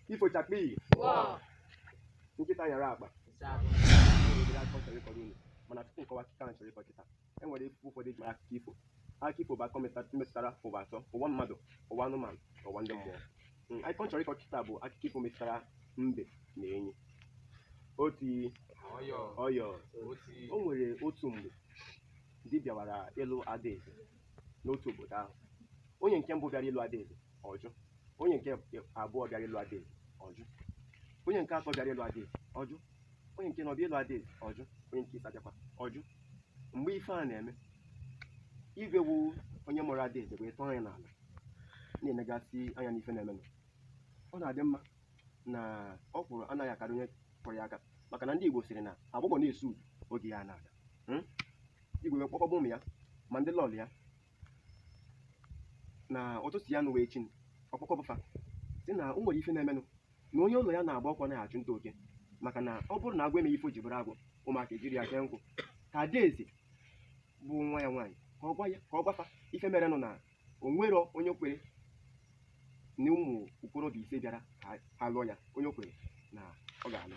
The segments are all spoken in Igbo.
ifo chakpii nkịta nyara akpa obere akụkọ m chọrọ ịkọrọ unu mana tupu m kọwa akụkọ ahụ m chọrọ ịkọ kịta e nwere ife ụfọdụ eji mara akụkọ ifo akụkọ ifo bụ akụkọ meta- metụtara ụwa atọ ụwa mmadụ ụwa anụmanụ na ụwa ndị mmụọ Mm, akụkọ m chọrọ ịkọ kịta bụ akụkọ ifo metụtara mbe na enyi otii ọyọ o nwere otu mgbe di bịawara ịlụ adaeze n'otu obodo ahụ onye nke mbụ bịara ịlụ adaeze ọ jụ onye nke abụọ bịara ịlụ adaeze ọ jụ onye nke atọ bịara ịlụ adaeze ọ jụ onye nke anọ bịa ịlụ adaeze ọ jụ onye nke ise bịakwa ọ jụ mgbe ife a na-eme igwe wụ onye mụrụ adaeze wee tọọ anya n'ala na-enegasị anya n'ife na-emenụ ọ na-adị mma na ọkwụrụ anaghị akarị onye kụrụ ya aka maka na ndị Igbo sịrị na agbọghọ na-esu udu oge ya na-aga igwe wee kpọkọba ụmụ ya ma ndị lọọlọ ya na ụtụtụ ya nụwa echi ọ kpọkọba fa sị na o nwere ife na-emenụ na onye ụlọ ya na-agba ọkụ anaghị achụ nta oke maka na ọ bụrụ na agwọ emeghị ife o ji bụrụ agwọ ụmụaka ejiri ya kee nkụ ka adaeze bụ nwa ya nwaanyị ka ọ gwa ya ka ọ gwa fa ife merenụ na o nwere onye o kwere na ụmụ okorobịa ise bịara ka ha lụọ ya onye kwere na ọ ga-alụ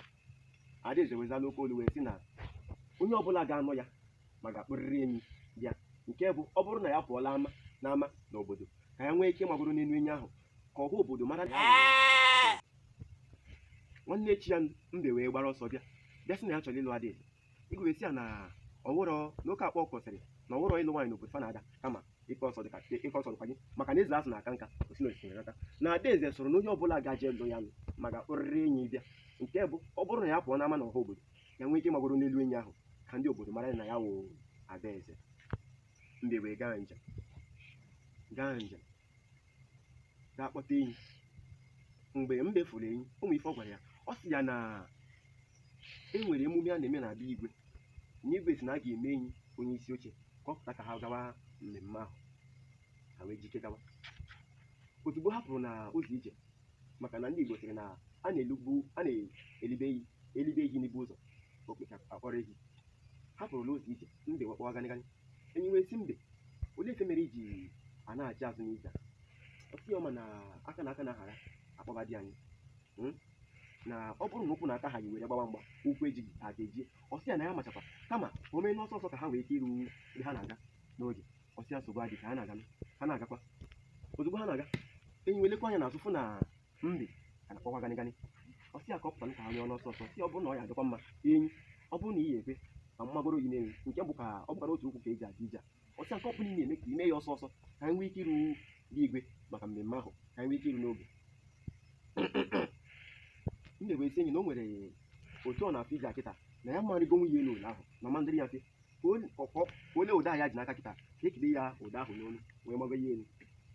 adaeze wee zaa n'oke olu wee sị na onye ọbụla ga-anụ ya ma ga-akpụrịrị enyi bịa nke bụ ọ bụrụ na ya pụọla ama n'ama n'obodo ka ya nwee ike magoro n'elu enyi ahụ ka ọha obodo mara na ya nwere nwanne echi ya mbe wee gbara ọsọ bịa bịa sị na ya chọrọ ịlụ adaeze igwe wee sị ya na ọ wụrọ n'oke akpọ kwụsịrị na ọ wụrọ ịlụ nwaanyị n'obodo fa na-ada kama ịkọ ọsọ dịka ịkọ ọsọ dịkwa gị maka na eze azụ na-aka nka o si na osimiri nata na adaeze sịrị na onye ọbụla gaje lụ ya nụwa ga-akpọrịrị enyi bịa nke bụ ọ bụrụ na ya pụọ n'ama na ọha obodo ya nwee ike ịmagoro n'elu enyi ahụ ka ndị obodo mara na ya wụ adaeze mbe wee gaa njem gaa njem gaa kpọta enyi mgbe mbe fụrụ enyi ụmụ ife ọ gwara ya ọ sị ya na e nwere emume a na-eme na be igwe na igwe sị na a ga-eme enyi onye isi oche ka ọ pụta ka ha gawa mmemme ahụ ha wee jike gawa ozugbo ha kwụrụ na ụzọ ije maka na ndị igbo sịrị na a na-elugbu a na-elibe ehi elibe ehi n'ibo ụzọ okpeta a kpọrọ ehi ha kwụrụ n'ụzọ ije mbe wee kpọwa ganịganị enyi wee sị mbe olee ife mere i ji anachi azụ n'ije a ọ sị ya ọ ma na aka na aka na-ahara a kpọba di anyị Hmm? na ọ bụrụ na ụkwụ na aka ahaghị e were gbawa mgba ụkwụ ejighị aka ejie ọ sị ya na ya machakwa kama o mee n'ọsọ ọsọ ka ha nwee ike iru ebe ha na-aga n'oge ọ sị ya nsogbu adịghị ka ha na-aga ha na-agakwa ozugbo ha na-aga enyi wee lekwa anya n'azụ fụ na mbe agakpọkwa gani gani ọ sị ya ka ọ pụta nụ ka ha nyụọ n'ọsọ ọsọ si ọ bụrụ na ọ ya adịkwa mma enyi ọ bụrụ na ị ya ekwe ka m magoro yi n'elu nke bụ ka ọ bụkwara otu ụkwụ ka e ji aga ije a ọ sị ya nke ọ bụla ị na-eme ka i mee ya ọsọ ọsọ ka anyị nwee ike iru be igwe maka mmemme ahụ ka anyị nwee ike iru n'oge mbe wee sị enyi na o nwere otu ọ na-afụ ije a kịta na ya marịgowe ya elu ụlọ ahụ na ọ ma adịrị ya mfe onye ọkpọ onye ụdọ ahụ ya ji n'aka kịta ka e kede ya ụdọ ahụ n'olu wee mabe ya elu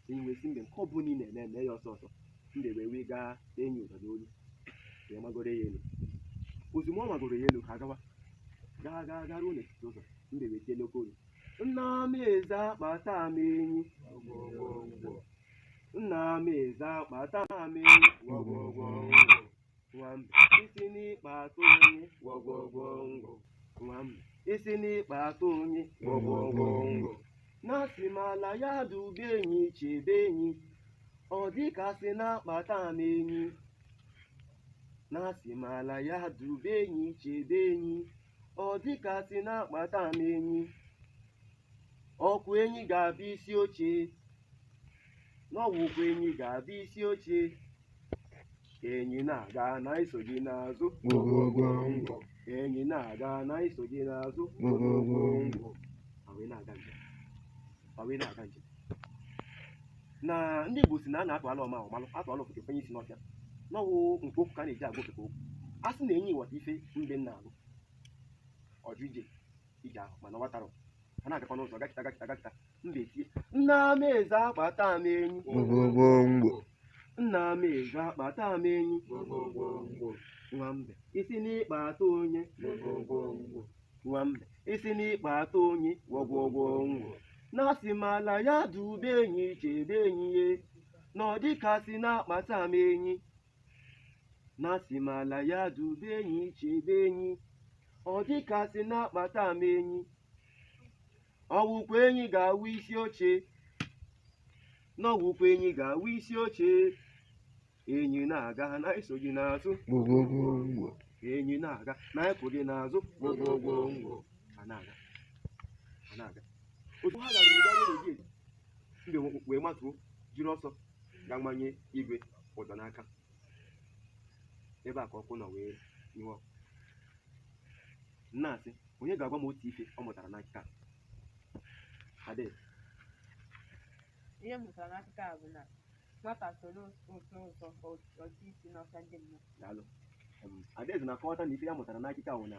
si wee sị mbe nke ọ bụla ị na-eme mee ya ọsọ ọsọ mbe wee wee gaa enyi ụdọ n'olu wee magoro ya elu ozugbo ọ magoro ya elu ha gawa gaa gaa gaa ruo n'etiti ụzọ mbe wee tie n'oke olu nna m eze akpata m enyi nna m eze akpata m enyi gwọgwọgwọ nwa mbe ị sị na ị kpata onye gwogwogwo ngwo nwa mbe ị sị na ị kpata onye gwogwogwo ngwo na asị m ala ya dube enyi chebe enyi ọ dị ka sị na akpata m enyi na asị m ala ya dube enyi chebe enyi ọ dị ka sị na akpata m enyi ọ kwa enyi ga-abụ isi oche na ọ wụkwa enyi ga-abụ isi oche ka enyi na-aga na anyị so gị n'azụ gwogwogwo ngwọ ka enyi na-aga na anyị so gị n'azụ gwogwogwo ngwọ Ọ wee na-aga njem. Ọ wee na-aga njem. na ndị Igbo sị na a na-atụala ọma ọ malụ a tụala ofeke fenye isi n'ọfịa na ọ wụ nke okwu ka a na-eji agwa ofeke okwu a sị na enyi ghọta ife mbe na-agụ ọ jụ ije ije ahụ mana ọ wọtarọ ọ na-agakwa n'ụzọ gakata gakata gakata mbe tie nna m eze akpata m enyi gwọgwọ ngwọ nna m eze akpata m enyi nwa mbe ị sị na ị kpata onye nwa mbe ị sị na ị kpata onye gwọgwọgwọ ngwọ na asị m ala ya dube enyi chebe enyi ya na ọ dịka sị na akpata m enyi na asị m ala ya dube enyi chebe enyi ọ dị ka sị na akpata m enyi ọ wụkwa enyi ga-awụ isi oche na ọ wụkwa enyi ga-awụ isi oche enyi na-aga na anyị so gị n'azụ gwogwogwongwo enyi na-aga na anyị so gị n'azụ gwogwogwongwo a na-aga a na-aga otu ha garuru garuo n'obi eze, mbe wee matuo jiri ọsọ gaa manye igwe ụdọ n'aka ebe a ka ọkụ nọ wee nyụọ m na-asị onye ga-agwa m otu ife ọ mụtara n'akụkọ a ade ihe m mụtara n'akụkọ a bụ na nwata soro ụtọ ụtọ ọ tụ isi n'ọka ndị mmadụ daalụ Em, Adaeze na-akọwata na ife ya mụtara n'akụkọ a bụ na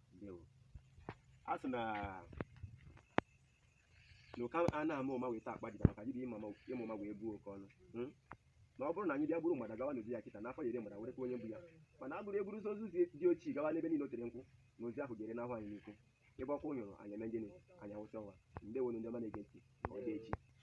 ndewo a sị na na oke a na-ama ụma wee ta akpa dibịa maka dibịa ịma ịma ụma wee bụọ oke ọnụ Hmm? na ọ bụrụ na anyị bịa buru mgbada gawa n'ozi ya kịta n'afọ ya ere mgbada wee rekwa onye bu ya mana e buru e buruzi ozu di diochi gawa n'ebe niile o tere nkwụ na ozu ahụ ga-ere n'ahụ anyị n'ikwu ebe ọkụ nyụrụ anyị eme gịnị anyị awụsa ọwa ndewonu ndị ọma na-ege ntị ka ọ dị echi